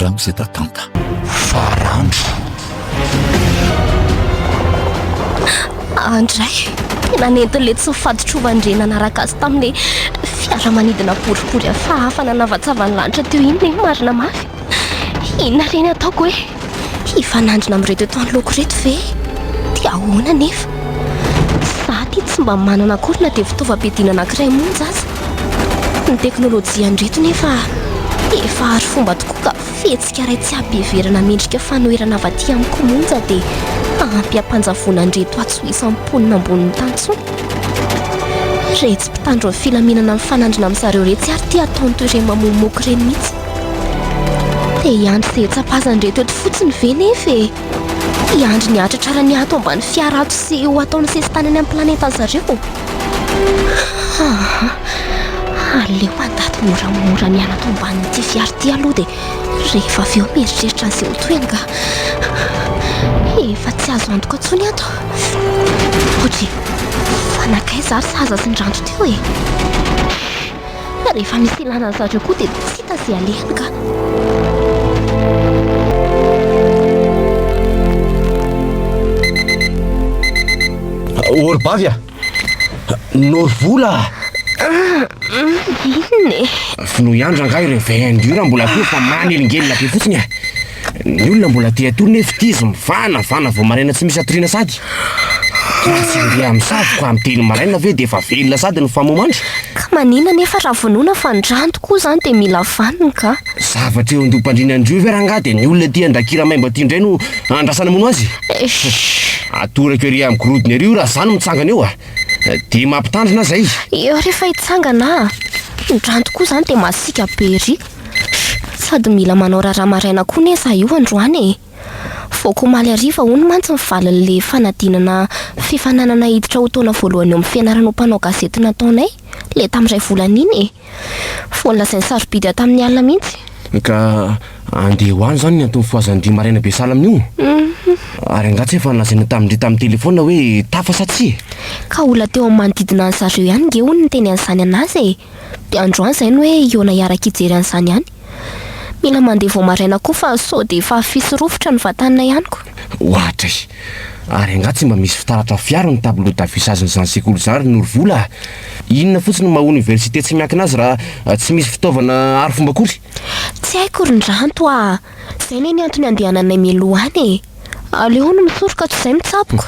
Ramose Tatanta, Farandro. Andray, tena nentin'ny letsy ny fadin-trovan-dReny nanaraka azy tamin'ilay fiaramanidina boribory hafahafa nanavatsava ny lanitra teo iny ny marina mafy. Inona re ny ataoko hoe hifanandrina amin'ireto eto anoloako ireto ve? Dia ahoana anefa? Izaho ity tsy mba manana akory na dia fitaovam-piadiana anankiray monja aza. Ny teknolojia andreto nefa efa arifomba tokoa ka fihetsika iray tsy habeverana mendrika fanoherana avy aty amin'ny komonja dia ampy hampanjavona andreto atsy ho isan'ny mponina ambonin'ny tany intsony. Retsy mpitandro ny filaminana mifanandrina amin'ny zareo retsy ary te hatao ny toereny mamomoky ireny mihitsy. Te hiandry izay hetsapazany reto eto fotsiny ve nefa e? Tsy andry ny hatratra raha ny ato ambany fiara ato sy ho atao ny sesitany any amin'ny planetan zareo. Aleo mandady moramora ny ato ambanin'ity fiara ity aloha dia rehefa avy eo mieritreritra ny seho tohiny ka. Efa tsy azo antoka intsony ato. Ohatry fa nankaiza ary sahaza sy ny ranto teo e. Fa rehefa misy ilana azy zareo koa dia tsy hita izay alehany ka. Ory bavy a! Noro vola a! Inona e? Finoy andro angaha ireo VN io raha mbola akory fa manelingelina be fotsiny a! Ny olona mbola te hatory nefa ity izy mivana vana vao maraina tsy misy hatoriana sady Raha tsy andeha amin'ny sary ka amin'ny telo maraina ve dia efa velona sady ny famomandry? Ka maninona anefa raha vonoina fa ny rano tokoa izany dia mila vaniny ka? Zavatra eo an-doha-pandriana an-dry io ve rangaha dia ny olona ity andrakira maimbo aty indray no andrasana hamono azy? Esh! Atorako ery amin'ny gorodona ery io raha izaho no mitsangana eo a! Dia mampitandrina aho izay! Eo rehefa hitsangana a! Ny rano tokoa izany dia masiaka be ery! Sady mila manao raharaha maraina koa anie za io androany e! Voako omaly hariva hono mantsy ny valin'le fanadinana fifaninanana hiditra ho taona voalohany eo amin'ny fianarana ho mpanao gazety nataonay, le tamin'ny iray volana iny e! Vao nolazain'i Sarobidy aho tamin'ny alina mihitsy. Ka andeha ho any izany ny anton'ny fohazan-dry maraina be sahala amin'io? Ary angaha tsy efa nolazaina tamin-dry tamin'ny telefaonina hoe tafa sa tsia? Ka olona teo amin'ny manodidina an'i zareo ihany nge hono niteny an'izany an'azy e! De androany zay no hoe hihaona hiaraka hijery an'izany ihany. Mila mandeha vao maraina koa fa sao dia efa afisy rovitra ny vatanina ihany ko. Ohatra e! Ary angaha tsy mba misy fitaratra afiaro ny tableau d'affichage n'izany sekoly izany ry Norovola a! Inona fotsiny no maha université tsy miankina azy raha tsy misy fitaovana arifomba akory? Tsy haiko ry Ndranto a! Zay ne ny antony andehananay mialoha any e! Aleo hono misoroka tsy zay mitsaboko!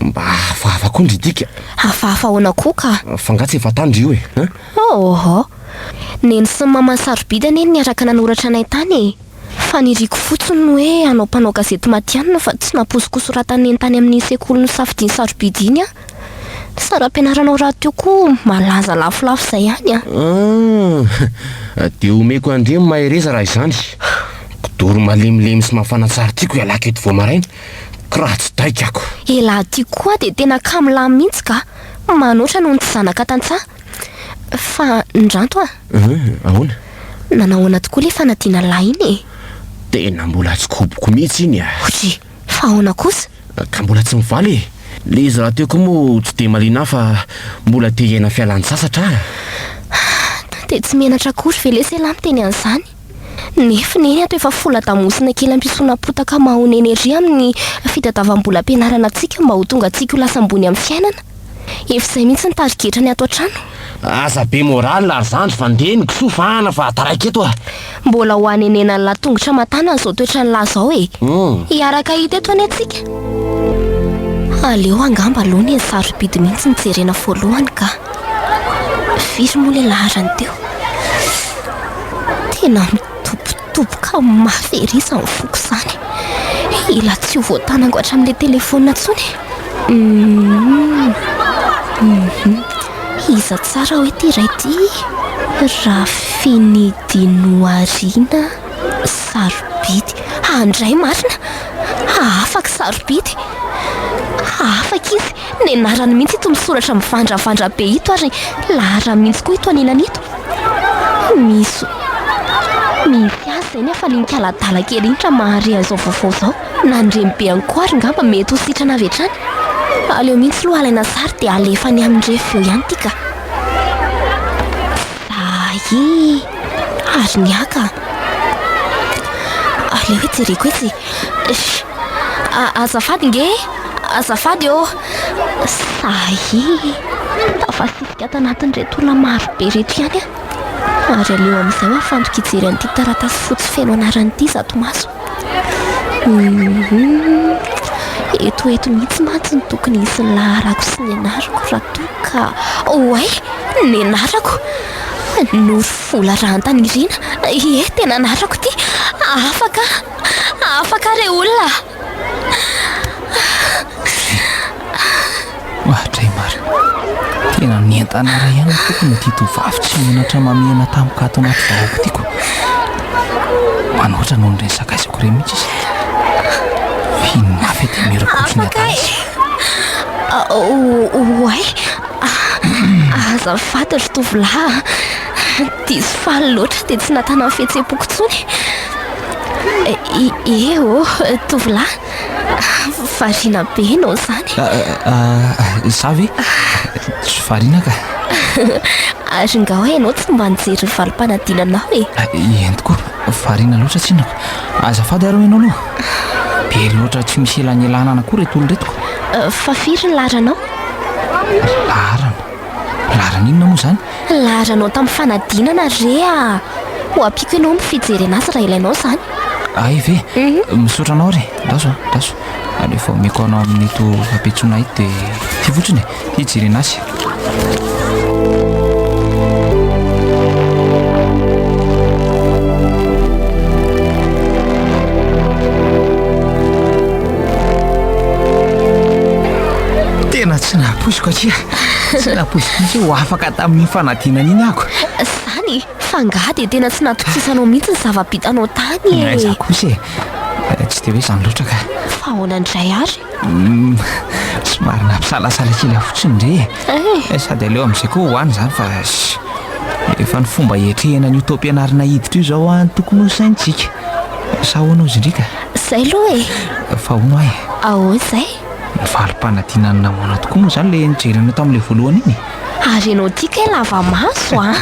Mba hafahafa koa ndry dika! Hafahafa ahoana koa ka! Fa nga tsy efa tany ry io e! Ôhôhô! Neny sy ny mamany sarobidy anie no niaraka nanoratra anay tany e! Fa niriko fotsiny ny hoe hanao mpanao gazety matihanina fa tsy nampoiziko ho soratan'i Neny tany amin'iny sekoly nosafidiany sarobidy iny an! Sary ampianaranao rahateo koa malaza lafolafo izay ihany an! Hum! Dia omeko an-dry Mahereza raha izany. Kidoro malemilemy sy mafana tsara tiako ialahy keto vao maraina, kiratsy daika ako. Elah ty koa dia tena kamo lany mihitsy ka! Manoatra noho ny tsy zanaka tantsaha. Fa niranto an! Hum! Ahoana? Nanahoana tokoa ilay fanadinan'lah iny e? Tena mbola tsy koboko mihitsy iny an! Hoji! Fa ahoana kosa? Ka mbola tsy mivaly e! Le izy rahateo koa moa tsy dia maliana ahy fa mbola te hiaina fialan-tsasatra aho. Dia tsy menatra akory ve lesy ialahy miteny an'izany? Nefy neny ato efa fola-damosina kely ampisoana potaka mahonena ery amin'ny fitadiavam-bolam-pianarana antsika mba ho tonga antsika ho lasa ambony amin'ny fiainana. Efa izay mihitsy ny tarigetra ny ato an-trano. Aza be morale ry zandry fa ndeha ny kisoa vahana fa taraiky eto a! Mbola ho hanenenany latongotra aman-tanany izao toetrany lahy izao e! Hiaraka hahita eto anie tsika. Aleo angamba aloha ny an'i Sarobidy mihitsy no jerena voalohany ka! Firy moa ilay laharany teo? Tena mitopy. Toboka mafy ery izany foko izany. Ila tsy ho voatanako hatramin'ilay telefaonina intsony. Iza tsara hoe ity iray ity? Rafiny Dinoarina sarobidy. Handray marina. Hahafaky sarobidy. Hahafaky izy. Ny anarany mihitsy ito misoratra mivandravandra be ito ary laharany mihitsy koa ito anilany ito. Misy misy azy izay ny hafalian'ity aladala kely iny raha mahare an'izao vaovao izao. Na ny reny be ihany koa ary ngamba mety ho sitrana avy hatrany. Aleo mihitsy aloha alaina sary dia alefa any amin'ny ref eo ihany ity ka. Zahi ary ny ahy ka. Aleo hoe jereko etsy e. Azafady nge e. Azafady ô! Sahia tafasisika ato anatin'ireto olona maro be ireto ihany aho. Ary aleo amin'izay aho afantoka hijery an'ity taratasy fotsy feno anarana ity zato maso. Eto eto mihitsy mantsy no tokony hisy ny laharako sy ny anarako raha toa ka... Oay! Ny anarako! Norofola Rahantanirina. Ie, tena anarako ity. Afaka aho! Afaka aho re olona! Mahatray marina. Tena nientana iray ihany ny tompony ity tovovavy tsy menatra mamihana tampoka ato anaty vahoaka ity koa. Manoatra noho ireny sakaizako ireny mihitsy izy ity. F'iny mafy ity mirakoso ny adala izy. Oay, aza faty ry tovolahy a. Diso faly loatra dia tsy nahatana ny fihetseham-poko intsony. Ie ô, tovolahy. Variana be ianao izany. Izaho ve? Tsy variana ka. Ary nga hoe ianao tsy mba nijery ny valim-panadinanao e? Eny tokoa, variana loatra tsinona. Azafady ary ho ianao aloha. Be loatra tsy misy elanelanana koa ireto olona ireto. Fa firy ny laharanao? Laharana? Laharana inona moa izany? Laharanao tamin'ny fanadinana re a! Ho ampiako ianao amin'ny fijerena azy raha ilainao izany. Hay ve? Misaotra anao re! Andraso a! Andraso! Aleo vao omeko anao amin'ito hapetsoana ito dia ity fotsiny e! Hijerena azy. Tena tsy nampoiziko akia! Tsy nampoiziko hoe ho afaka tamin'iny fanadinana iny ako. Zany e, fa angaha dia tena tsy natokisisanao mihitsy ny zava-bitanao tany e. Aiza kosa e, tsy dia hoe izany loatra ka. Fa ahoana indray ary? Somary nampisalasala kely aho fotsiny indray e. Eh. Sady aleo amin'izay koa ho any izany fa efa ny fomba hiatrehana an'io taom-pianarana hiditra io izao an tokony ho saintsika. Sa ahoana hozy indrika? Izay aloha e. Fa hono aho e. Ahoana izay? Valim-panadinana nahoana tokoa moa izany ilay nijery anao tamin'ilay voalohany iny e? Ary ianao ity kay lava maso a!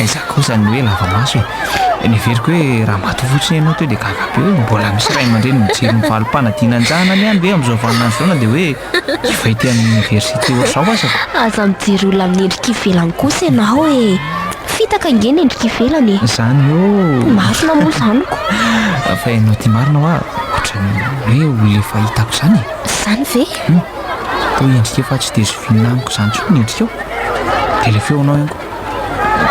Aiza kosa ny hoe lava maso e! Niheveriko hoe raha maty fotsiny ianao teo dia gaga be hoe mbola misy ray aman-dreny mijery ny valim-panadinana an-jahana any ihany ve amin'izao vaninandro izao na dia hoe efa ety amin'ny oniversite ohatr'izao aza ka. Aza mijery olona amin'ny endrika ivelany kosa ianao e! Fitaka ange ny endrika ivelany e! Izany ô! Marina moa izany ko! Fa ianao ity marina hoa! Ohatran'ny hoe olona efa hitako izany e. Izany ve? Humm. Toa endrika efa tsy dia zoviana amiko izany intsony ny endrikao. Dia ilay feonao ihany koa.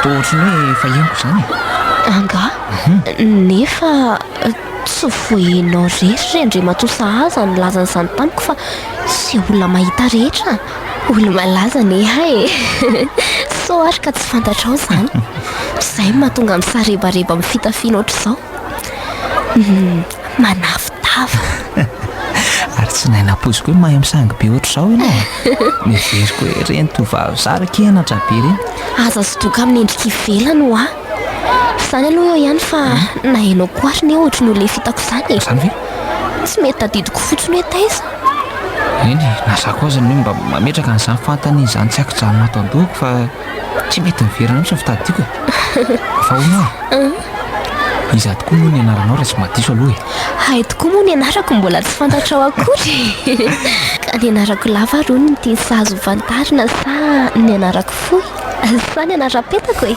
Toa ohatran'ny hoe efa henoko izany e. Angaha? Nefa tsy vao ianao irery ry Andriamatoa Sahaza no nilaza an'izany tamiko fa izay olona mahita rehetra olo-malaza neha e. Sao ary ka tsy fantatrao izany. Izay no mahatonga misarebareba amin'ny fitafiana ohatr'izao. Manafitava. Ary tsy nahay nampoiziko hoe mahay misangy be ohatr'izao ianao e! Noheveriko hoe ireny tovovavy zara kianatra be ireny. Aza sodoka amin'ny endrika ivelany hoa. Izany aloha eo ihany fa na ianao koa ary anie ohatry ny ho lefy hitako izany e! Izany ve? Tsy mety tadidiko fotsiny hoe taiza. Eny e, na za koa aza anie mba mametraka an'izany fanontaniana izany tsy an-kijanona ato an-dohako fa. Tsy mety miverina mihitsy ny fitadidiako e. Fa ahoana ah? Iza tokoa moa ny anaranao raha tsy mba diso aloha e? Hay tokoa moa ny anarako mbola tsy fantatrao akory e. Ka ny anarako lava ary hono no tiany sahaza ho fantarina sa ny anarako fohy? Sa ny anaram-petako e?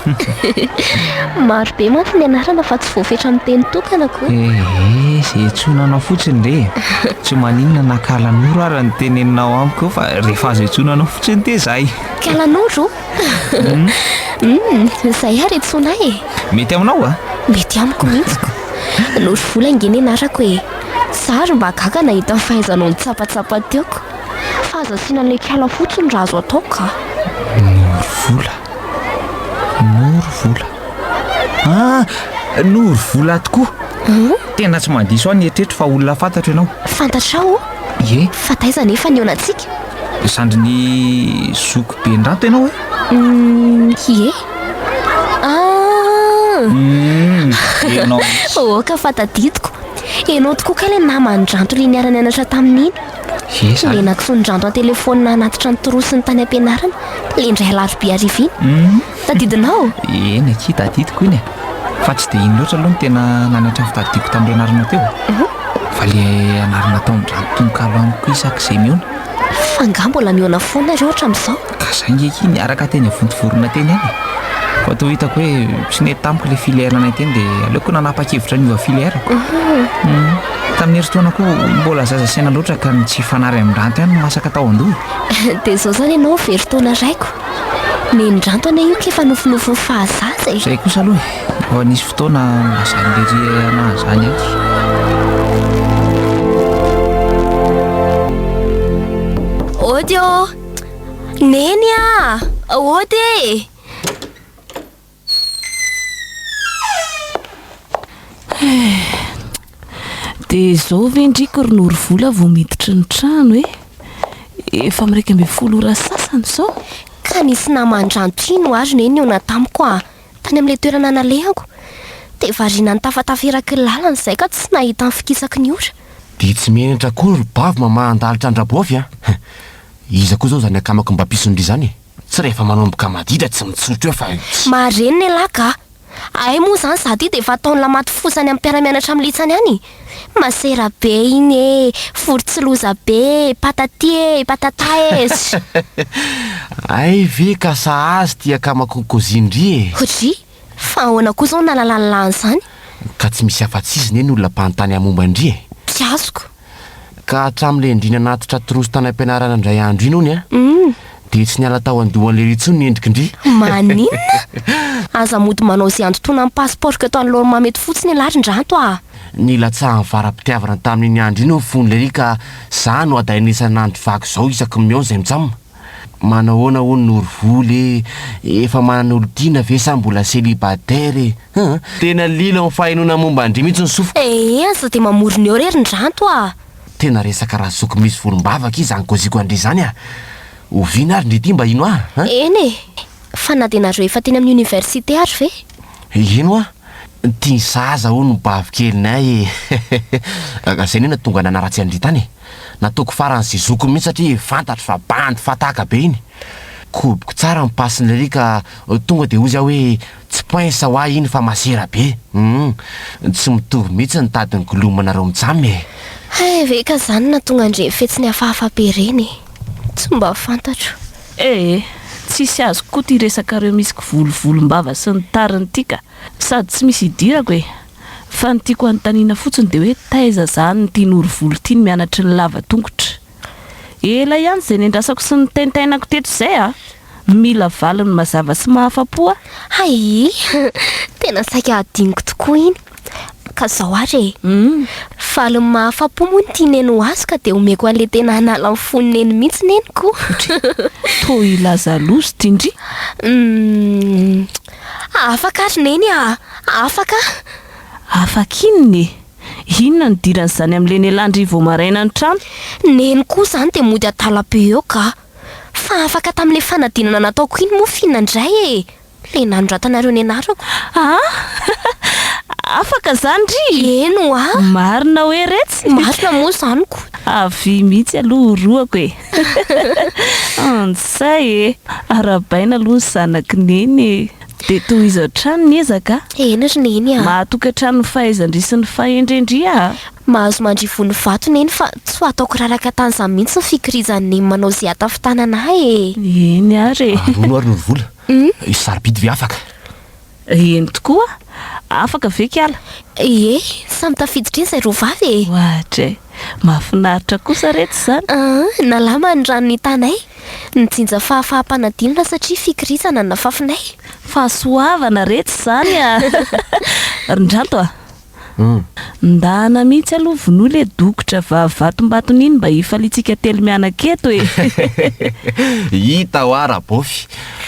Maro be mantsy ny anarana fa tsy voafetra amin'ny teny tokana ko. Ehe, izay antsoina anao fotsiny re e. Tsy maninona na Kalanoro ary no teneninao amiko eo fa rehefa azo antsoina anao fotsiny dia izay. Kalanoro? Hum, izay ary antsoina ahy e. Mety aminao va? Mety amiko mihitsy ko. Norivola ange ny anarako e. Za ary mba gaga nahita ny fahaizanao nitsapatsapa teo ko. Fa aza asiana an'ilay kala fotsiny raha azo atao ka. Norivola. Norivola. Ah, norivola tokoa. Tena tsy mandiso aho ny eritreritro fa olona fantatro ianao. Fantatrao? Ie. Fa taiza anefa ny olantsika? Zandrin'i zoky be ndrato ianao e? Umm, ie. Ah! Umm, ianao mihitsy. Aoka fa tadidiko. Ianao tokoa kay ilay naman-dranto le niara-nianatra tamin'iny. Ie, zany. Ilay nakisoan-dranto an-telefaonina hanatitra ny trossiny tany am-pianarana, le indray alarobia hariva iny. Umm. Tadidinao? Eny akia, tadidiko iny e. Fa tsy dia iny loatra aloha no tena nanattra ny fitadidiako tamin'ireo anaranao teo e. Fa ilay anarana ataon'ny ranom-tononkalo amiko isaky izay mihaona. Fa angaha mbola mihaona foana ireo hatramin'izao? Ka saingy akia niaraka teny Vontovorona teny ihany e. Fa toa hitako hoe tsy nety tamiko ilay filière-nay teny dia aleoko nanapa-kevitra ny hiova filière-ko. Tamin'ny herintaona koa mbola zaza saina loatra ka ny tsy hifanary amin'ny ranty ihany no masaka tao an-doha e. Dia izao izany ianao very taona raiko. Nenindranto anie io k'efa nofinofy ho fahazaza e! Zay kosa aloha e! Vao nisy fotoana mazan'ny lery anahy izany aho. Ody ô! Neny a! Ody e! Dia izao ve ndry ko ry Norivola vao miditra ny trano e? Efa amin'ny iraika ambin'ny folo ora sasany izao. Ka nisy naman-dranto ino ary no nihaona tamiko a! Tany amin'ilay toerana nalehako. Dia variana nitafatafa eraky ny lalana izay ka tsy nahita ny fikisaky ny ora. Dia tsy menatra akory ry Bavy mamahan-dalitra an-dRabaovy a! Iza koa izao izany akamako mba mpisondry izany e? Tsy rehefa manomboka madida tsy mitsotra eo fa io. Mahare ny lehilahy ka! Ahay moa izany izaho ity dia efa ataon'ny lamaty fosa any amin'ny mpiara-mianatra amin'ny litsany any e! Masera be iny e! Vorontsiloza be e! Patati e! Patata e! Sssh! Hay ve ka sahaza ity akamakon kozin-dry e! Hodry! Fa ahoana koa izao no nahalalany lahy an'izany? Ka tsy misy afa-tsy izy ne no olona mpanontany haham-momba an-dry e! Tsy azoko! Ka hatramin'ilay andriana natitra trousse tany am-pianarana indray andro iny hono dia tsy niala tao an-dohan'lery intsony ny endrikindry. Maninona? Aza mody manao izay handotoana ny pasipaoriko eto anoloan'mama eto fotsiny ialahy ry Ndranto a! Nilatsahan'ny vara-pitiavana tamin'iny andro iny ny fon'lery ka za no hadaina isan'andro vaky izao isaky ny mihaona izay mitsam. Manahoana hono Norovoly e! Efa manana olon-tiana ve sa mbola celibataire e? Hum! Tena lilo amin'ny fahenoana momba an-dry mihitsy ny sofiko. Ee aza dia mamorona eo re ry Ndranto a! Tena resaka razoky misy volombavaka izany goziko an-dry izany a! Oviana ary ndry ity mba hino ahy a! Eny e! Fa na dia nareo efa teny amin'ny oniversite ary ve? Hino aho! Tia ny saza hono ny bavy kelinay e! Izay anie no nahatonga ahy nanaratsy an-dry tany e! Nataoko farany sy zokiny mihitsy satria fantatro fa bandy fataka be iny. Koboko tsara ny passe-ny lery ka tonga dia hoy za hoe tsy pince ho ahy iny fa masera be. Humm. Tsy mitovy mihitsy ny tady nigolomanareo mitsam e. Hay ve ka zany no nahatonga an'ireny fetsiny hafahafa be ireny e. Tsy mba fantatro. Eh! Tsisy azoko koa ity resakareo misy kivolovolom-bava sy ny tariny ity ka. Sady tsy misy hidirako e. Fa ny tiako anontaniana fotsiny dia hoe taiza zany ity Norovoly ity ny mianatry ny lava tongotra? Ela ihany izay nendrasako sy niteintainako teto izay a! Mila valiny mazava sy mahafapo a! Hayy! Tena saika hadinoko tokoa iny! Ka izao ary e! Valiny mahafapo moa ny tia neny ho azy ka dia omeko an'ilay tena hanala ny fon'i neny mihitsy neniko! Toa hilaza loza ity ndry! Humm. Afaka ary Neny a! Afaka! Afaka inona e? Inona no idiran'izany amin'ilay nialàn-dry vao maraina ny trano? Neny koa izany dia mody adala be eo ga! Fa afaka tamin'ilay fanadinana nataoko iny moa f'inona indray e! Ilay nanoratanareo ny anarako. Aa! Afaka izany ry! Eny hoa! Marina hoe retsy? Marina moa izany ko! Avia mihitsy aloha horohako e! Antsay e! Arahabaina aloha ny zanaky Neny e! Dia tohizo hatrany ny ezaka a! Eny ry Neny a! Maha-tokantrano ny fahaizan-dry sy ny fahendren-dry a! Mahazo mandrivo ny vato Neny fa tsy ho ataoko raraka tany izany mihitsy ny fikirizan'i Neny manao izay hatafintanana ahy e! Eny ary e! Arono ary ny vola. Sarobidy ve afaka? Eny tokoa, afaka ve kiala? Ie, samy tafiditra iny izay roa vavy e! Oahatra e! Mahafinaritra kosa re tsy izany? Aa, nalama ny rano nitanay, nijinja fahafaham-panadinona satria fikirizana no nafafinay. Fahasoavana re tsy izany a! Ry Ndranto a! Ndana mihitsy aloha vonoy le dokotra vavatombatony iny mba hifaliantsika telo mianaka eto e! Hita hoa Rabofy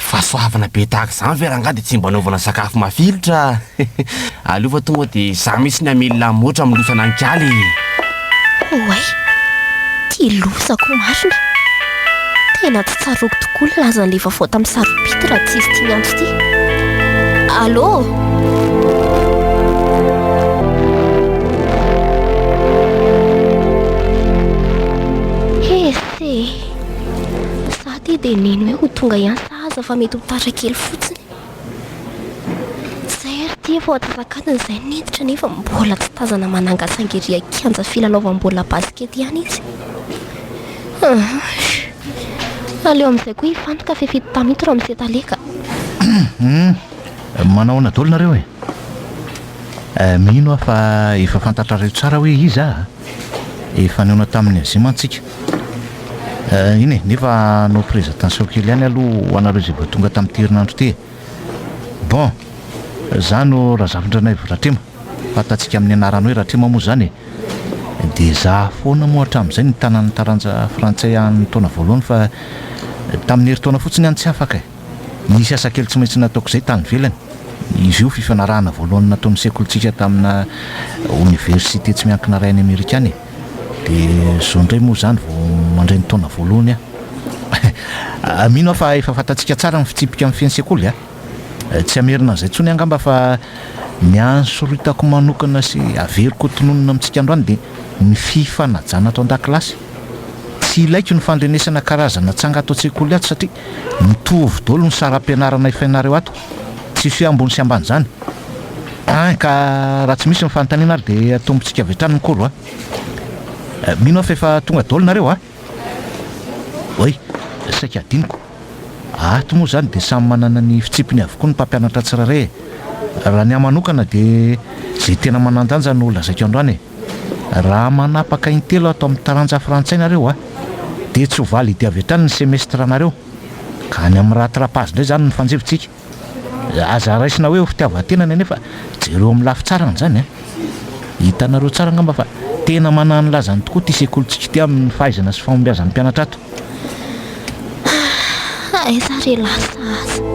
fa soavina be tahaka izany ve rangahy dia tsy mba anaovana sakafo mafilotra? Aleo fa tonga dia izaho mihitsy ny hamely lamotra hamelosana an'i Kaly e! Oay! Tia loza ko marina! Tena tsy tsaroako tokoa ny lazan'ilay vaovao tamin'ny sarobidy raha tsy izy ity niantso ity. Allô? Ese! Za ity dia nino hoe ho tonga ihany sahaza fa mety ho tara kely fotsiny. Izay ary ity efa ao antsasakadiny izay no hentitra nefa mbola tsy tazana manangasanga ery an-kianja filalaovam-baolina basikety ihany izy. Ahh. Aleo amin'izay koa hifantoka fa efa hita tamin'ito Ramose tale ka. Humm. Manao ahoana daholo nareo e? Mino aho fa efa fantatrareo tsara hoe iza aho a! Efa nihaona tamin'ny Azia mantsy tsika. Eh, iny e, nefa hanao présentation kely ihany aloha ho anareo izay vao tonga tamin'ity herinandro ity e. Bon, za no Razafindranaivo Ratrema, fantatsika amin'ny anarany hoe Ratrema moa izany e. Dia za foana moa hatramin'izay no nitanan'ny taranja frantsay an'ny taona voalohany fa tamin'ny herintaona fotsiny ihany tsy afaka e. Nisy asa kely tsy maintsy nataoko izay tany ivelany. Izy io fifanarahana voalohany nataon'ny sekolintsika tamina oniversite tsy miankina iray any Amerika any e. Dia izao indray moa izany vao mandray ny taona voalohany aho. Mino aho fa efa fantatsika tsara ny fitsipika amin'ny fen'ny sekoly a! Tsy hamerina an'izay intsony angamba fa ny ansoritako manokana sy averiko ho tononina amintsika androany dia ny fifanajana ato an-dakilasy. Tsy ilaiko ny fandrenesana karazana tsanga ato an-tsekoly ato satria mitovy daholo ny saram-pianarana efainareo ato. Tsy fy ambony sy ambany izany. Hein ka raha tsy misy ny fanontaniana ary dia atombontsika avy hatrany ny cours a! Mino aho fa efa tonga daholo nareo a! Oay! Saika hadinoko. Ato moa izany dia samy manana ny fitsipiny avokoa ny mpampianatra tsirairay e! Raha ny ahy manokana dia izay tena manan-danja no lazaiko androany e! Raha manapaka intelo ato amin'ny taranja frantsay nareo a! Dia tsy ho validy avy hatrany ny semestranareo ka any amin'ny raha trapaz indray izany no fanjivontsika. Aza raisina hoe ho fitiavan-tena ny anay fa jereo amin'ny lafy tsarany izany a! Hitanareo tsara angamba fa tena manana ny lazany tokoa ity sekolintsika ity amin'ny fahaizana sy fahombiazan'ny mpianatra ato. Ah, aiza re lasa aza?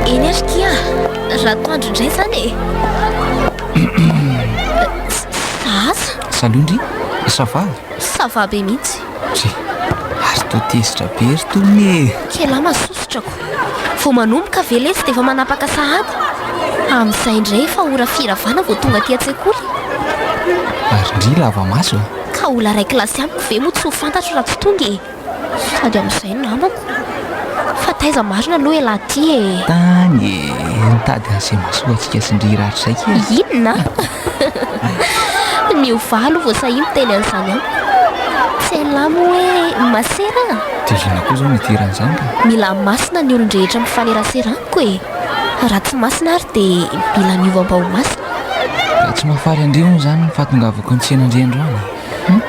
Eny ary kia, ratoandro indray izany e! Zaza! Salut ndry, ça va? Ça va be mihitsy. Ry, ary toa tezitra be ry Tony e! Kely aho masosotrako. Vao manomboka ve lesy dia efa manapaka sahady? Amin'izay indray efa ora firy avana vao tonga aty an-tsekoly? Ary ndry lava maso e! Ka olona iray kilasy amiko ve moa tsy ho fantatro raha tsy tonga e? Sady amin'izay no namako. Fa taiza marina aloha elah ty e? Tany e, nitady an'izay mahasoantsika sy ndry ratra izay kely. Inona? Ny ovà aloha vao sahia miteny an'izany amiko. Tsy hain'lah moa hoe masera an? Dia inona koa izao no idiran'izany ka? Mila masina ny olon-drehetra mifanerasera amiko e. Raha tsy masina ary dia mila miova mba ho masina. Ka tsy mahafaly andry hono izany ny fahatongavako any tsena ndry androany? Humm!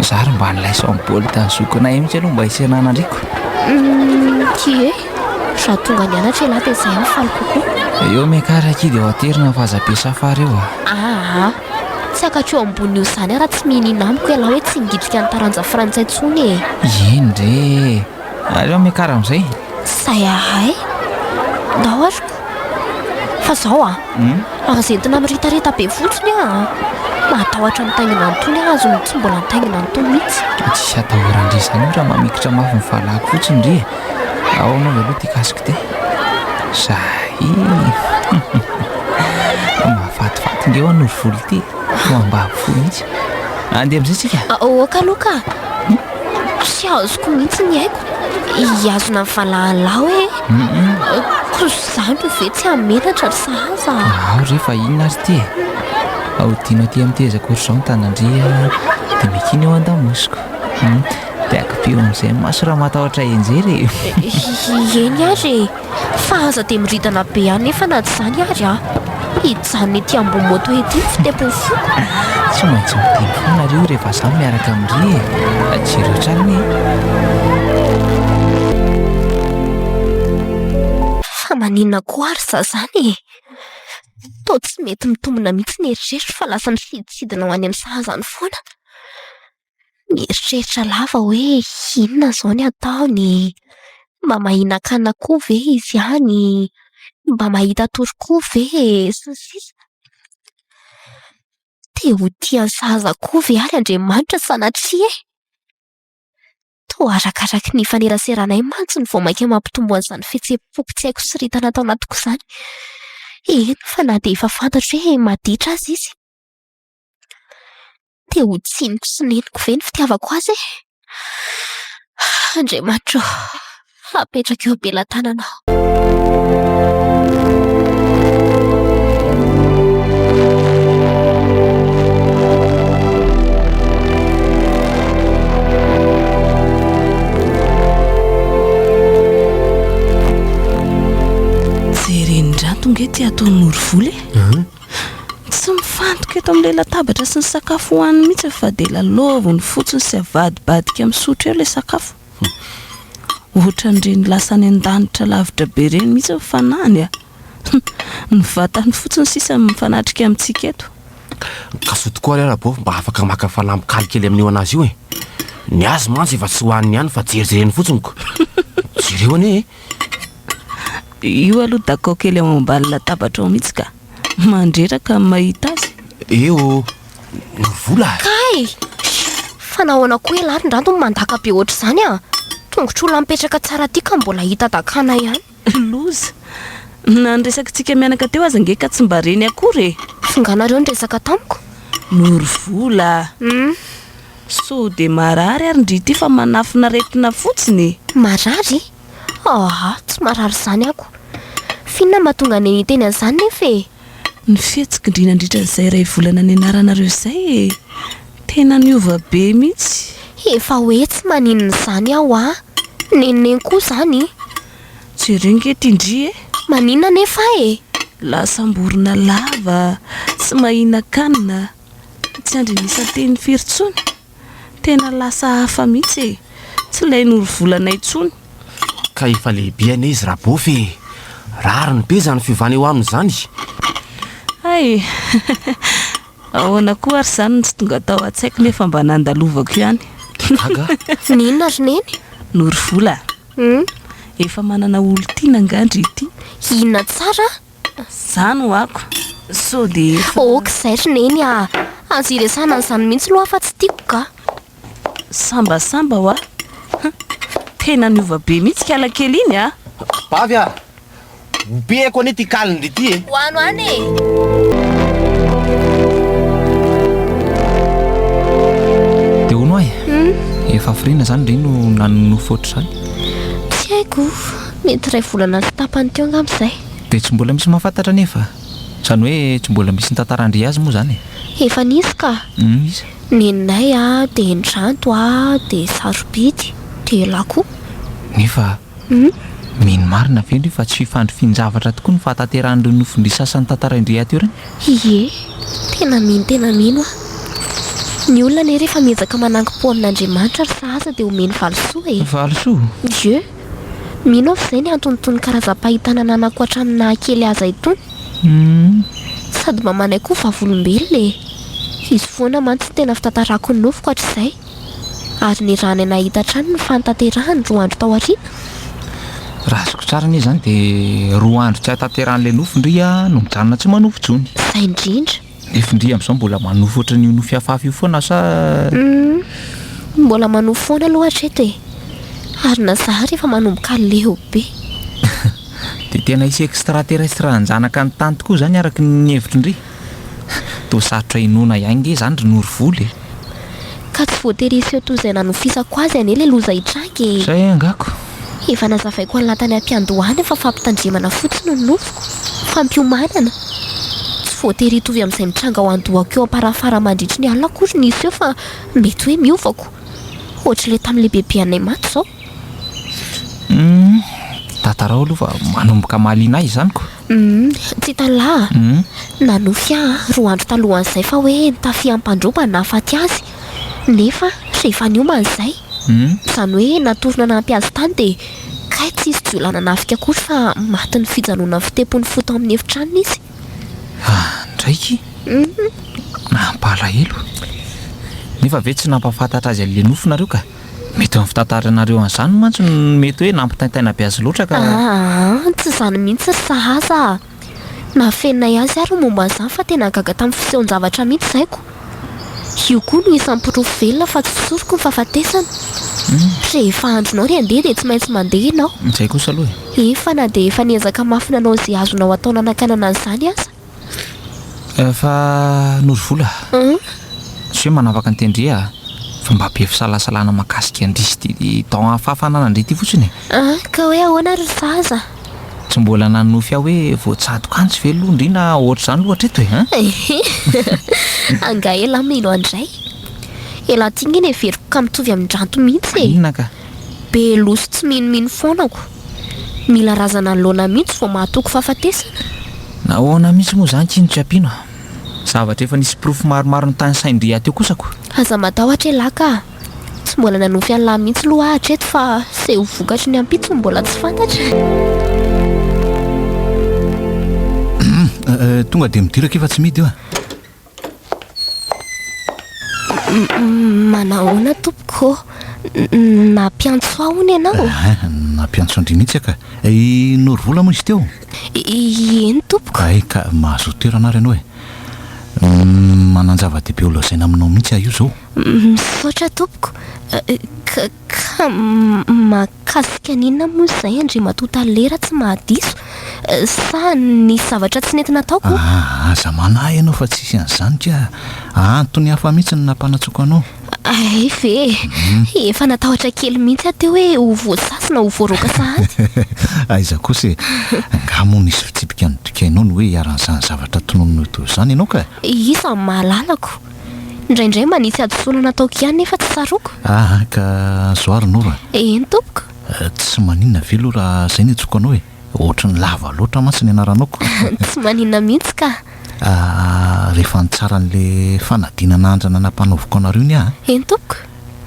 Za ary mba nilay sao boly tany zokinay mitsy aloha mba hisenana andriko. Humm! Ki e! Za tonga nianatra elah dia zay no faly kokoa. Eo meka ry Ki dia ho aterina ny fahazabe safar eo a! Aa! Tsy hakatreo ambony io zany ara tsy mihinina amiko elah hoe tsy nigidrika ny taranja frantsay tsony e! Eny re! Aleo miakara amin'izay. Zay ahay. Ndao ary ko. Fa zao a. Hmm? Raha zentina miritarita be fotsiny a. Mahatahotra mitaingina an'itony aho azony tsy mbola nitaingina an'itony mihitsy. Tsy hatahoran-dry izany raha mamikitra mafy ny fahalako fotsiny ry e. Ao anao ve aloha ty casque ty. Zahay. Mahafatifaty nge ho an'ory volo ty. Ho ambavy fo mihitsy. Andeha amin'izay tsika. Aoka aloha ka. Tsy azoko mihitsy ny aiko hihazona ny valahany lahy hoe ko zandry ve tsy hamelatra ry sahaza a. Ao re fa inona ary ity e. Ahodino aty amin'ny tezako ry izao ny tanandria dia miakiana eo an-damosiko. Dia akipio amin'izay ny maso raha matahotra hianjera e. Eny ary e. fa aza dia miridana be anefa na tsy izany ary aho. Hijanona ety ambony moto ety ny fitempon'ny foko. Tsy maintsy miteny foana nareo rehefa izaho miaraka amin'ry e. Jiro hatrany e. Fa maninona koa ary izaho izany e? Toa tsy mety mitombina mihitsy ny eritreritra fa lasa misidintsidina ho any amin'ny sahazany foana. mieritreritra lava hoe inona izao no ataony? Mba mahinan-kanina koa ve izy ihany? Mba mahita tory koa ve? sy ny sisa Te ho tia ny saza koa ve àry Andriamanitra sanatria e? Toa arakaraky ny ifaneraseranay mantsy no vao mainka mampitombo an'izany fihetseham-po tsy haiko siritana ato anatiko izany. Eny fa na dia efa fantatro hoe maditra aza izy. Dia ho tsiniko sy neniko ve ny fitiavako azy e? Andriamanitra ô, apetrako eo am-pelatananao. Jereny indray ity ataon'i Norovola e. Tsy mifantoka eto amin'ilay latabatra sy ny sakafo hohaniny mihitsy ny fa dia lalaoviny fotsiny sy avadibadika misotro eo ilay sakafo. Ohatran'ireny lasa any an-danitra lavitra be ireny mihitsy ny fanahiny a! Ny vatany fotsiny sisa no mifanatrika amintsika eto. Ka soa tokoa ary ara-bao mba afaka maka fanamby-kaly kely amin'io an'azy io e! Ny azy mantsy efa tsy hohaniny ihany fa jerijereny fotsiny ko! Jereo anie e! Io aloha dakao kely ao ambany latabatra ao mihitsy ka. Mandreraka amin'ny mahita azy. Eo ô, ny vola. Kay! Fa nahoana koa ialahy ry Ndranto no mandaka be ohatr'izany a! Tongotr'olona mipetraka tsara aty ka mbola hita dakana ihany. Loza! Na ny resakitsika mianaka teo aza ange ka tsy mba reny akory e! Fonganareo niresaka tamiko? Noro vola! Hum. Sao dia marary ary ndry ity fa manafin'aretina fotsiny e! Marary? Aah, tsy marary izany ako. F'inona mba tonga aney niteny an'izany nefa e? Ny fihetsik'ndry nandritra izay iray volana nianaranareo izay e! Tena niova be mihitsy. Efa hoe tsy maninona izany aho a! Nenoneno koa izany. Jereo nge ity ndry e! Maninona nefa e? Lasam-borona lava, tsy mahinankanina, tsy andrin'isa teny firy intsony. Tena lasa hafa mihitsy e! Tsy ilay norovolana intsony. Ka efa lehibe anie izy Rabofy e! Rariny be izany fiovana eo aminy izany. Hay! Ahoana koa ary izany no tsy tonga tao an-tsaiko nefa mba nandalovako ihany. Dia gaga aho. N'inona ry Neny? Norovola a! Hum. Efa manana olon-tiana angaha ndry ity? Inona tsara? Zany hoako sao de efa. Ok zay ry neny ah! Aza iresahana an'izany mihitsy loha fa tsy tiako ka! Sambasamba hoa! Tena niova be mihitsy kala kely iny ah! Bavy ah! Ompiako anie ty kalindry ity e! Ho ano any e! Dia hono ay! Efa hafiriana izany ry no nanonofy ohatr'izany? Tsy haiko! Mety iray volana sy tapany teo angamba izay. Dia tsy mbola misy mahafantatra anefa. Izany hoe tsy mbola misy nitantara an-dry azy moa izany e. Efa nisy ka. Hum iza? Neninay a, dia indranto a, dia sarobidy, dia elah koa. Nefa Hum. mino marina ve ndry fa tsy fifandrifian-javatra tokoa ny fahatanterahan'ireo nofin-dry sasany tantarain-dry ahy teo ireny? Ie. Tena mino tena mino aho. Ny olona anie rehefa miezaka manankim-po amin'Andriamanitra ry sahaza dia omeny valisoa e. Valisoa? Ie. Mino aho fa izay ny antony itony karazam-pahitana ananako hatramin'ny naha kely aza itony. Sady mba manaiky ho vavolombelona e! Hisy foana mantsy ny tena fitantarako ny nofiko hatrizay. Ary ny ràny nahita hatrany ny fanatanterahany roa andro tao aoriana? Raha azoko tsara anie izany dia roa andro tsy ahatanterahan'ilay nofy ndry aho no mijanona tsy manofy intsony. Izay indrindra. Ny findria amin'izao mbola manofy ohatran'ny io nofy hafahafa io foana sa? Humm, mbola manofy foana aloha hatreto e! Ary na za ary efa manomboka leo be. Dia tena hisy extra terrestre hanjanaka ny tany tokoa izany araka ny hevitr'i Ndry? Toa sarotra inoana ihany nge izany ry Norivola e! Ka tsy voatery hiseho toy izay nanofisako azy anie le loza hitranga e! Zay angaha ko! Efa nazavaiko an'lah tany am-piandohana fa fampitandremana fotsiny no nofiko, fampiomanana. Tsy voatery hitovy amin'izay mitranga ao an-dohako eo am-parafara mandritry ny alina akory ny hiseho fa mety hoe miova ko! Ohatr'ilay tamin'ilay bebe anay maty izao. Humm! Tatarao aloha fa manomboka mahaliana ahy izany ko! Uhm, tsy tany lahy a! Nanofy ahy roa andro talohan'izay fa hoe nitafia ampandroba ny nahafaty azy, nefa rehefa niomana izay, izany hoe natory nanampy azy tany dia kay tsy hisy jiolahy nanafika akory fa matin'ny fijanonan'ny fitempon'ny fo tao amin'ny efitranony izy. Andraiky! Mampalahelo! Nefa ve tsy nampahafantatra azy an'ilay nofy nareo ka? Mety ny fitantaranareo an'izany mantsy no mety hoe nampitaintaina be azy loatra ka. Aah, tsy izany mihitsy ry sahaza a! Nafeninay azy àry ny momba an'izany fa tena gaga tamin'ny fisehoan-javatra mihitsy izay ko. Io koa no isan'ny porofo velona fa tsy soroko ny fahafatesana. Rehefa andronao ry andeha dia tsy maintsy mandeha ianao. Izay kosa aloha e! Efa na dia efa niezaka mafy nanao izay azonao atao nanakanana an'izany aza. Eh, fa Noro Vola, tsy hoe manavaka an'i Tendrie ah, fa mba be fisalasalana mahakasika an-dry sy ty don hafahafanan an-dry ty fotsiny e! Ah, ka hoe ahoana ry zaza? Tsy mbola nanonofy ahy hoe voatsadoka any tsy ve aloha ndry na ohatr'izany loha hatreto e! Hein? Ehe, angaha elah mino an-dray? Elah ty nge ny heveriko ka mitovy amin-dranto mihitsy e! Inona ka? Be loha sy tsy minomino foana ko! Mila razana anoloana mihitsy vao mahatoky fahafatesana? Nahoana mihitsy moa izany Kino tsy ampiana a! Zavatra efa nisy porofo maromaro notanisain-dry hateo kosa ko! Aza matahotra elah ka! Tsy mbola nanofy an'lah mihitsy loha aho hatreto fa se ho vokatry ny ampitso no mbola tsy fantatra e! Tonga dia midiraka io fa tsy mety io a! Manahoana tompoko? Nampiantso ahy hono ianao? Eh, nampiantso an-dry mihitsy ka. I Norovola moa izy teo? Eny tompoko. Hay ka, mahazoa toerana ary ianao e. Manan-java-dehibe ho lazaina aminao mihitsy aho io izao. Misaotra tompoko. Ka, ka, Ka zika n'inona moa izay Andriamatoa Tale raha tsy mahadiso? Sa nisy zavatra tsy nety nataoko? Aa, aza manahy ianao fa tsisy an'izany ka antony hafa mihitsy no nampanatsoako anao. Hay ve e! Efa natahotra kely mihitsy aho teo hoe ho voasasy na ho voaroaka sahady. Aiza kosa e! Angaha moa nisy fitsipika nodikainao ny hoe hiharan'izany zavatra tononinao teo izany ianao ka? Iza no mahalalako? Indraindray mba nisy hadisoana nataoko ihany nefa tsy tsaroako. Aa ka azo ary no ra. Eny tompoko. Tsy maninona ve aloha raha izay no antsoiko anao e? Ohatran'ny lava loatra mantsy ny anaranao ko. Tsy maninona mihitsy ka. Aa rehefa nitsara an'le fanadinana andrana nampanaoviko anareo ny ahy. Eny tompoko.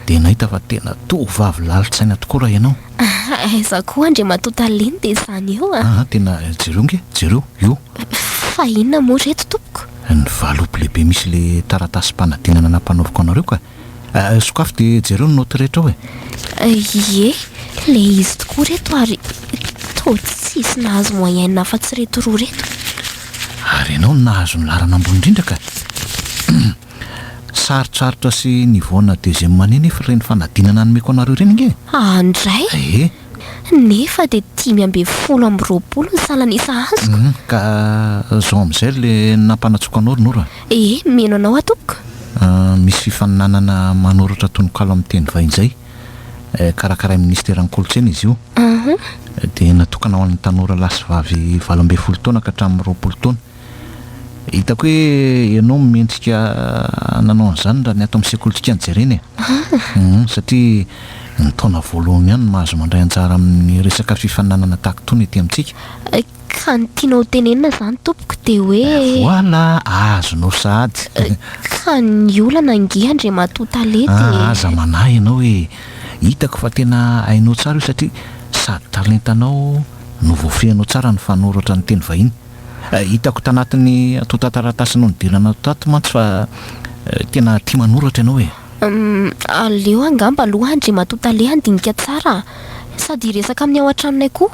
Dia nahita fa tena tovovavy lalin-tsaina tokoa raha ianao. Aiza koa Andriamatoa Taleny dia izany eo a. Aa tena jereo nge, jereo, io. Fa inona moa ireto tompoko. Ny valopy lehibe misy le taratasim-panadinana nampanoriko anareo ka! Sokafy dia jereo ny naoty rehetra ao e! Ie, le izy tokoa reto ary toa tsisy nahazo moyenne afa-tsy reto roa reto. Ary ianao no nahazo ny laharana ambony indrindra ka! Sarotsarotra sy nivoana deuxième année nefa ireny fanadinana nomeko anareo ireny ange e! An-dray! Ee! Nefa dia dimy ambin'ny folo amby roapolo ny salan'isa azoko. Humm ka zao amin'izay le nampanatsoako anao ry Nora a! Ee, mino anao aho tompoko. Humm misy fifaninanana manoratra tononkalo amin'ny teny vahiny izay eh, karakarain'ny Minisiteran'ny Kolontsaina izy io. Humm. Dia natokana ho an'ny tanora lahy sy vavy valo ambin'ny folo taona ka hatramin'ny roapolo taona. Hitako hoe ianao no mendrika nanao an'izany raha ny ato amin'ny sekolintsika no jerena e. Humm, satria ny taona voalohany ihany no mahazo mandray anjara amin'ny resaka fifaninanana tahaka itony ety amintsika. Ka ny tianao ho tenenina izany tompoko dia hoe. Voilà, azonao sahady. Ka ny olana ange Andriamatoa Tale dia. Ah, aza manahy ianao e. Hitako fa tena hainao tsara io satria sady talentanao no voafehinao tsara ny fanoratra ny teny vahiny. Hitako tanatin'ny antontan-taratasy nodiranao tato mantsy fa tena tia manoratra ianao e! Umm, aleo angamba aloha Andriamatoa Tale handinika tsara sady hiresaka amin'ny ao an-tranonay koa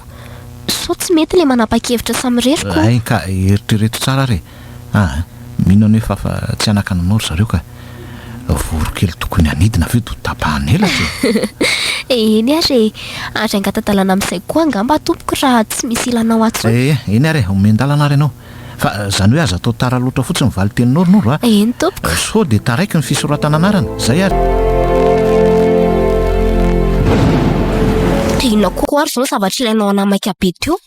sao tsy mety ilay manapa-kevitra samirery ko! Hay ka, eritrereto tsara ary e! Aa, mino anie fa fa tsy hanakana anao ry zareo ka! Voronkely tokony hanidina avy eo dia ho tapahana elatra e! Eny ary e! Ary angata-dalana amin'izay koa angamba tompoko raha tsy misy ilanao atsy hono. Ee, eny ary e! Omen-dalana ary ianao. Fa izany hoe aza atao tara loatra fotsiny ny valin-teninao ry Noro a! Eny tompoko. Sao dia taraiky ny fisoratana anarana. Izay ary. Dia inona koa ary izao ny zavatra ilainao hanamaika be teo?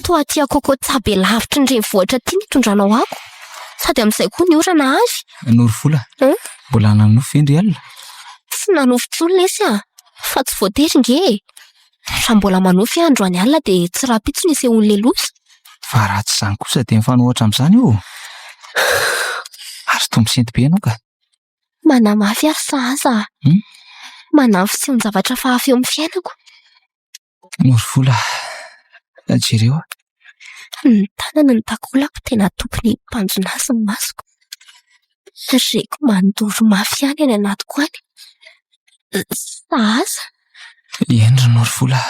Toa aty Akokotsa be lavitry ny renivohitra aty ny itondranao ako. Sady amin'izay koa ny orana avy. Norovola, mbola nanofy ve ndry alina? Tsy nanofy intsony lesy a! Fa tsy voatery nge e! Raha mbola manofy aho androany alina dia tsy rahampitso ny hisehoan'ny lelosa. Fa raha tsy izany kosa dia mifanohitra amin'izany io ô! Ary toa misinto be ianao ka! Manamafy ary sahaza aho. Manahy ny fisehon-javatra fahafa eo amin'ny fiainako. Morivola, jereo a! Ny tanany no takolako tena atopy ny tanjona azy ny masoko. Reko mandoro mafy ihany any anatiko any. Sahaza! Eny ry Morivola,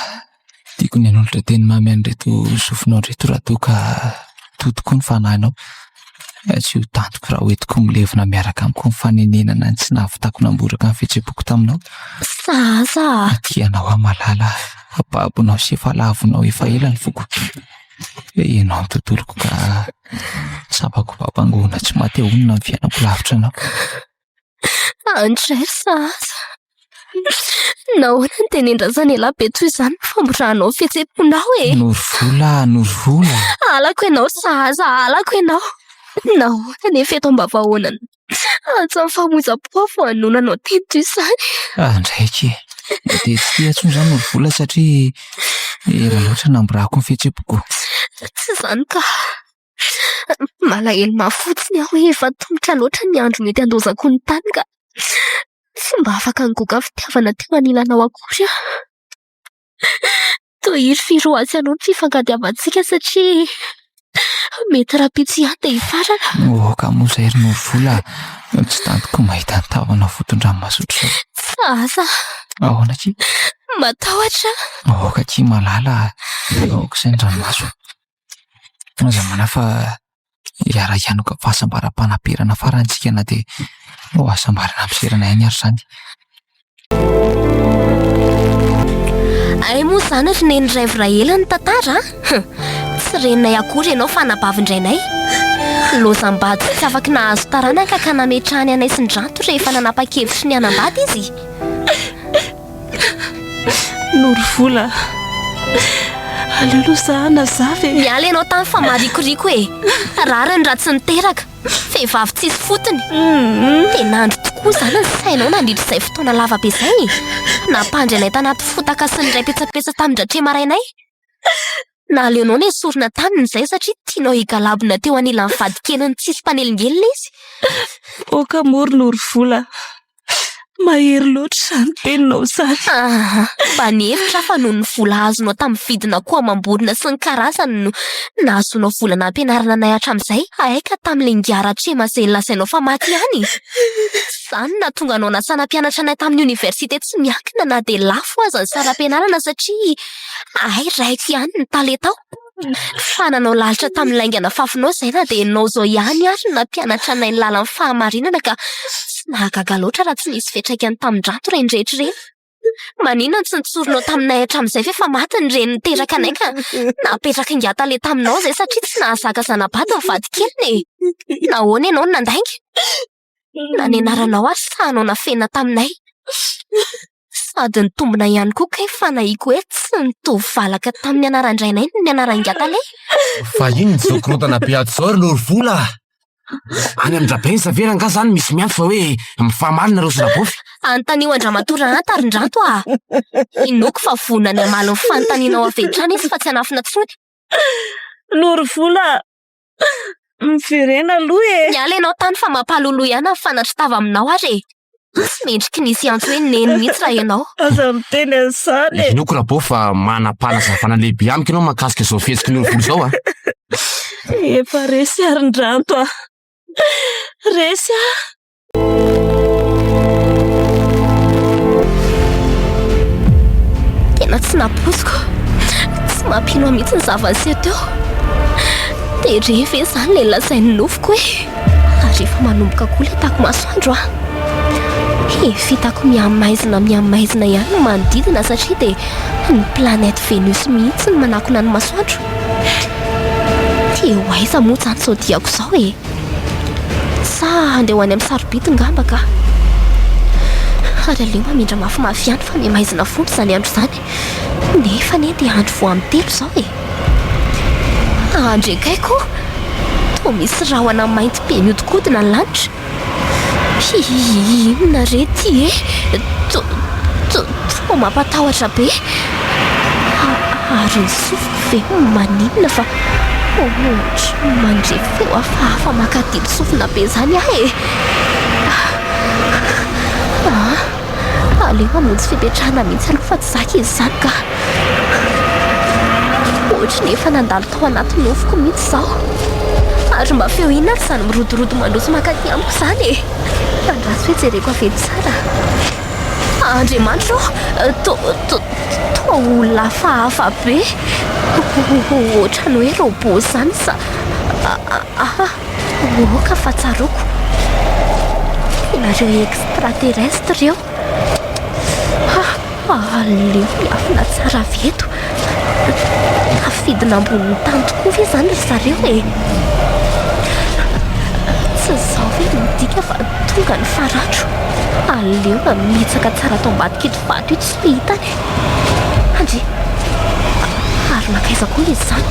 tiako ny hanolotra teny mamy an'ireto sofinao ireto raha toa ka toa tokoa ny fanahinao. Tsy ho tantiko raha hoentiko milevina miaraka amiko ny fanenenana ny tsy nahavitako namboraka ny fihetseham-poko taminao. Sa asa a! Aty ianao aho malala fa babonao sy efa lavonao efa ela ny foko. Dia ianao ny tontoloko ka tsapako babangoana tsy maty ahonona ny fiainako lavitra anao. Andress a! Nahoana no dia nendrasana ela be toy izany ny famorànao ny fihetseham-ponao e? Norovola a! Norovola! Halako ianao sahaza, halako ianao! Nahoana anefa eto ambavahaona ny antsan'ny famoizam-po aho vao hanoina anao teny toy izany? Andraikitra e! Dia tsy tia intsony izany Norovola satria ela loatra namorako ny fihetseham-poko. Tsy izany kah! Malahelo mafy fotsiny aho hoe efa tongotra loatra ny andro mety handozako ny tany ka tsy mba afaka nigoka fitiavana teo anilanao akory aho. Tohizo sy Firoatsy anao ny fifankatiavantsika satria mety rahampitso ihany dia hifarana. Moaka moa izay ry Novola no tsy tantiko mahita ny tahonao foton-dranomasotra izao. Tsy asa. Ahoana akia? Matahotra. Aoka akia malala aho. Aoka izay ny ranomaso. Aza manahy fa hiara hianoka amin'ny fahasambaram-panaperana farany isika na dia ho hasambarana amin'ny fiserana ihany ary izany. Hay moa izany ry neny raivoray ela ny tantara a! Tsy reninay akory ianao fa anabavin-drainay. Lozam-bady sy tsy afaky nahazo taranaka ka nametrahany anay sy ny Ranto rehefa nanapa-kevitry ny hanambady izy. Norovola. Aleo aloha izaho hanazava e. Miala ianao tany fa marikoriko e. Rariny raha tsy niteraka. Vehivavy tsisy fotony. Dia nandry tokoa izany ny sainao nandritra izay fotoana lava be izay e. Nampandry anay tanaty fotaka sy niray petsapetsa tamin-dRatrema rainay. Naleonao nesorina taminy izay satria tianao higalabona teo anilan'ny vadikeliny tsisy mpanelingelina izy. Aoka moa ry Norovola. Mahery loatra izany teninao izany. Aa! Mba nihevitra aho fa noho ny vola azonao tamin'ny vidina akoho amam-borona sy ny karazany no nahazoanao vola nampianarana anay hatramin'izay. Hay ka tamin'ilay ingahy Ratrema izay lazainao fa maty ihany e! Izany no nahatonga anao nasana mpianatra anay tamin'ny oniversite tsy miankina na dia lafo aza ny saram-pianarana satria hay raiko ihany ny talentao. Fa nanao lalitra tamin'ny laingana fafinao izay na dia ianao izao ihany ary no nampianatra anay ny lalan'ny fahamarinana ka tsy nahagaga loatra raha tsy nisy fiantraikany tamin-drato ireny rehetra ireny. Maninona no tsy nitsorinao taminay hatramin'izay fa efa maty ny reny niteraka anay ka napetraka ingatale taminao izay satria tsy nahazaka zana-bady ny vadikeliny e! Nahoana ianao no nandainga? Inona ny anaranao ary sahy nafenina taminay? Sady nitombina ihany koa kay fanahiako hoe tsy nitovy valaka tamin'ny anaran-drainay ny anaran-giahy tale. Vahiny ny zokirodana be ato izao ry Lorivola a! Any amin'ny Rabensa ve rangahy izany misy miantso fa hoe mifamaly nareo sy Rabofy? Anontanio an-dramatoa Rahanta ry Ndranto a! Inoako fa vonona ny hamaly ny fanontanianao avy hatrany izy fa tsy hanafina intsony. Lorivola a! Miverena aloha e! Miala ianao tany fa mampaloloha ihany ny fanatro tava aminao ary e! Tsy mendriky ny hisy antso hoe neny mihitsy raha ianao. Aza miteny an'izany e! Henoiko Rabao fa manam-panazavana lehibe amiko ianao mahakasika izao fihetsiky ny olovolo izao a! Efa resy ary ny ranto a! Resy a! Tena tsy nampoiziko. Tsy mampino ahy mihitsy ny zava-niseho teo. Dia re ve izany ilay lazain'ny nofiko hoe ary efa manomboka koa ilay tako masoandro an. He, fitako mihamaizina mihamaizina ihany ny manodidina satria dia ny planète Vénus mihitsy no manakona ny masoandro. Dia ho aiza moa izany izao diako izao e? Sa handeha ho any amin'ny sarobidy ngamba ka? Ary aleo hamindra mafimafy ihany fa miha maizina foana izany andro izany. Nefa anie dia andro vao amin'ny telo izao e! Andry akaiky o! Toa misy rahona mainty be mihodinkodina ny lanitra. Hihihihi, inona re ity e? To-to-toa mampatahotra be. Ary ny sofiko. Dia maninona fa ohatry mandre feo hafahafa mankadino sofina be izany aho e! Aa! Aleo hamonjy fipetrahana mihitsy aloha fa tsy zaka izy izany ka! Ohatry ny efa nandalo tao anaty nofoko mihitsy izao. Ary mba feo inona ary izany mirodorodo mandroso mankaty amiko izany e! Andraso hoe jereko avy eny tsara. Andriamanitra ô, toa olona hafahafa be, ohatran'ny hoe robot izany sa aha? Aoka fa tsaroako, ianareo extraterrestre ireo, aleo miafina tsara avy eto. Tafidina ambonin'ny tany tokoa ve izany ry zareo e? Tsy izao ve no midika fa tonga ny faran'andro? Aleo mamitsaka tsara ato ambadik'ito vato ito sy hita any e! Andry! Ary mankaiza koa izy izany?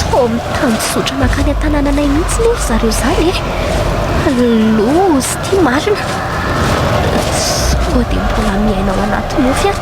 Toa mitanjozotra mankany an-tanànanay mihitsy anie ry zareo izany e! Loza ity marina! Sao dia mbola miaina ao anaty nofy aho?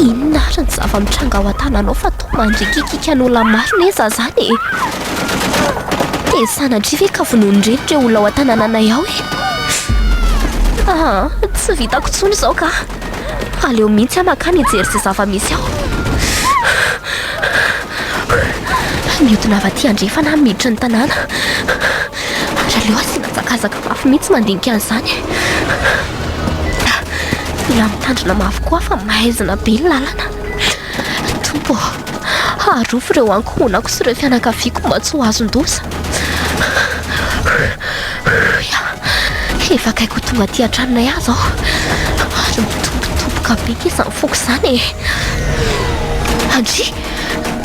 Inona ary ny zava-mitranga ao an-tananao fa toa mandrikikika ny olona maro ny eza izany e? Dia sanatria ve ka vonoin'ireto ireo olona ao an-tanananay ao e? Ah, tsy vitako intsony izao ka. Aleo mihitsy aho makany hijery izay zava-misy ao. Mihodina avy aty andrefana aho miditra ny tanàna. ary aleo asiana hazakazaka mafy mihitsy mandinika an'izany e! Mila mitandrina mafy koa aho fa maizina be ny lalana. Tompo ô, arovy ireo ankohonako sy ireo fianakaviako mba tsy ho azon-doza. Efa akaiky ho tonga aty an-tranonay aho izao, ary mitobotoboka be izany foko izany e! Andry!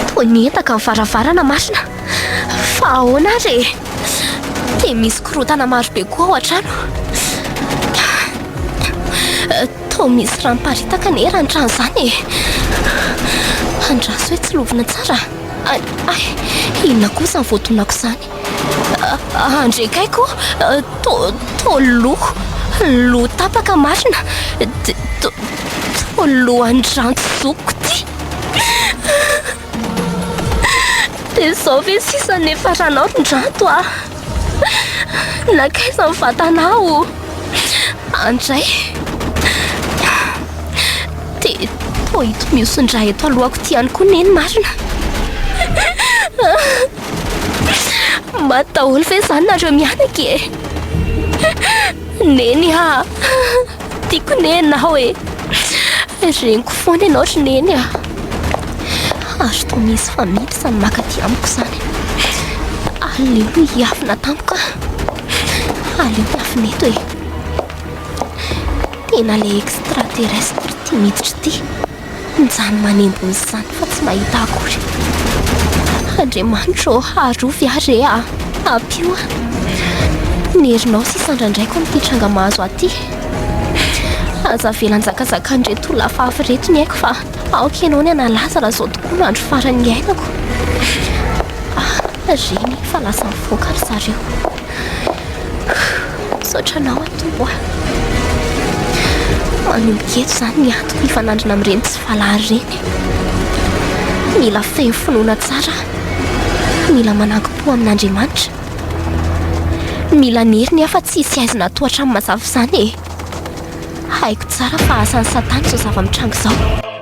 Toa niendaka ny varavarana marina. Fa ahoana ary e? Dia misy korontana marobe koa ao an-trano. Toa misy rano paritaka anie raha ny trano izany e. Andraso hoe tsy lovina tsara. Ay, ay, inona koa izany voadonako izany? Andrekaiko, toa toa loha, loha tapaka marina. Toa lohan'ny rano zokiko ity. Dia izao ve sisa no niafaranao ry Ndrato a? Nankaiza ny vatanao? Andray. Dia toa ito mihoson-dra eto alohako ity ihany koa neny marina. Maty daholo ve izany nareo mianaka e? Neny a! Tiako ne ianao e. Reniko foana ianao ry neny a. Ary toa misy family samy makaty amiko izany. Aleo no hiafina tamiko a. Aleo hiafina eto e. Tena le extraterrestre ity miditra ity. Mijanona manembo ny sany fa tsy mahita akory. Andriamanitro ô, arovy ahy re aa! Ampio aho! Ny herinao sisa andrandraiko amin'ity tranga mahazo ahy ity. Aza avela hanjakazakan'ireto olona hafahafa ireto ny aiko fa aoka ianao ny hanalaza raha izao tokoa no andro farany niainako. Ah! Reny fa lasa nivoaka ry zareo. Misaotra anao aho Tompo a. Manomboka eto izany ny antoko hifanandrina amin'ireny tsy valary ireny. Mila feno finoana tsara aho. Mila manankim-po amin'Andriamanitra. Mila ny heriny aho fa tsy hisy aizina tohatran'ny mazava izany e. Haiko tsara fa asan'i Satana izao zava-mitranga izao.